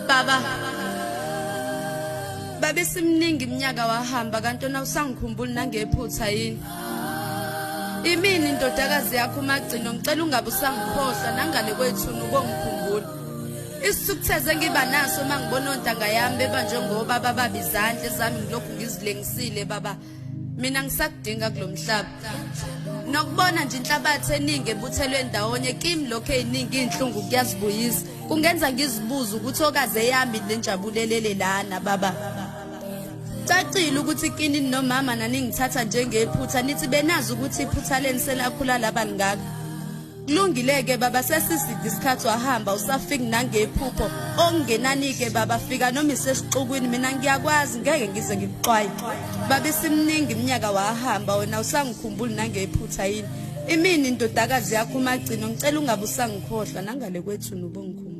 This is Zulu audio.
Baba Babe simningi iminyaka wahamba kanti ona usangikhumbuli nangephutha yini Imini indodakazi yakho umagcino ngicela ungabe usangikhohlwa nangale kwethu ubongikhumbula Isithukutheze ngiba naso mangibona ontanga yami bebanjwe ngoba baba bizandle zami ngilokhu ngizilengisile baba mina ngisakudinga kulomhlaba nokubona nje inhlabathi eningi ebuthelwe ndawonye kimi lokho eziningi inhlungu kuyazibuyisa kungenza ngizibuze ukuthi okaze yami lenjabulelele lana baba cacile ukuthi kini nomama naningithatha njengephutha nithi benazi ukuthi iphutha leni selakhula laba lingaka Kulungile-ke baba sesiside isikhathi wahamba usafiki nangephupho okungenani-ke baba fika noma isesixukwini mina ngiyakwazi ngeke ngize ngikuxwaye baba isimningi iminyaka wahamba wena usangikhumbuli nangephutha yini imini indodakazi yakho umagcino ngicela ungabe usangikhohlwa nangale kwethu nobongikhumbula